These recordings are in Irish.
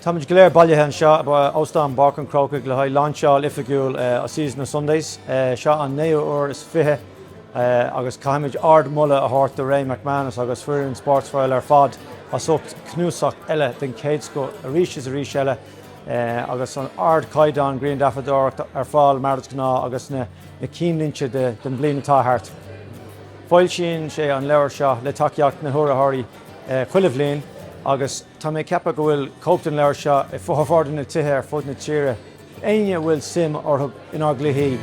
Táimid go léir bailithe anseo ag Óstán Pháirc an Chrócaigh le haghaidh lainseáil oifigiúil A Season of Sundays. Seo an naoú huair is fiche agus caithfimid ardmholadh a thabhairt do Ray McManus agus foireann Sportsfile ar fad as ucht cnuasach eile den chéad scoth arís is arís eile agus an ardchaighdeán griangrafadóireachta ar fáil mar is gnáth agus na cinnlínte den bhliain atá thart. Foilsíonn sé an leabhar seo le tacaíocht na n-urraitheoirí chuile bhliain agus tá mé ag ceapadh go bhfuil cóip den leabhar seo i bhformhór de na tithe ar fud na tíre, éinne a bhfuil suim orthu inár gcluichí.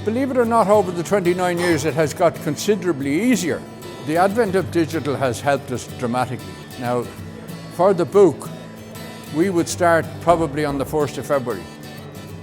Believe it or not, over the 29 years it has got considerably easier. The advent of digital has helped us dramatically. Now, for the book, we would start probably on the 1st of February.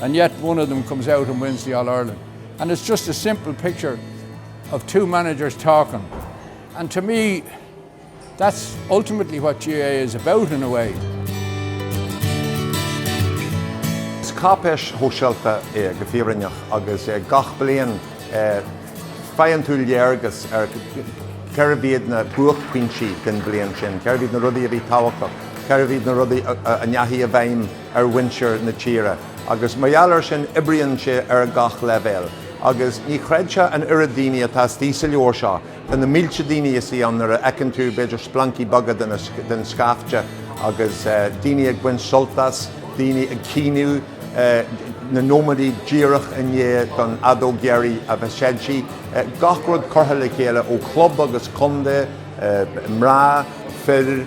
and yet one of them comes out and wins the All Ireland and it's just a simple picture of two managers talking and to me that's ultimately what GAA is about in a way. Is cáipéis shóisialta é go fírinneach agus gach bliain faigheann tú léargas ar cérbh iad na buaicphointí den bhliain sin, cérbh iad na rudaí a bhí tábhachtach, cérbh iad na rudaí a ndeachaigh i bhfeidhm. ar mhuintir na tíre agus mar gheall air sin oibríonn sé ar gach leibhéal agus ní chreidfeá an oiread daoine atá istigh sa leabhar seo tá na mílte daoine istigh ann nuair a fheiceann tú b'fhéidir splancaí beaga den scaifte agus daoine ag baint sult as, daoine ag caoineadh, na nóiméadaí díreach i ndiaidh don fheadóg dheiridh a bheith séidte, gach rud curtha le chéile ó chlub agus contae, mná, fir.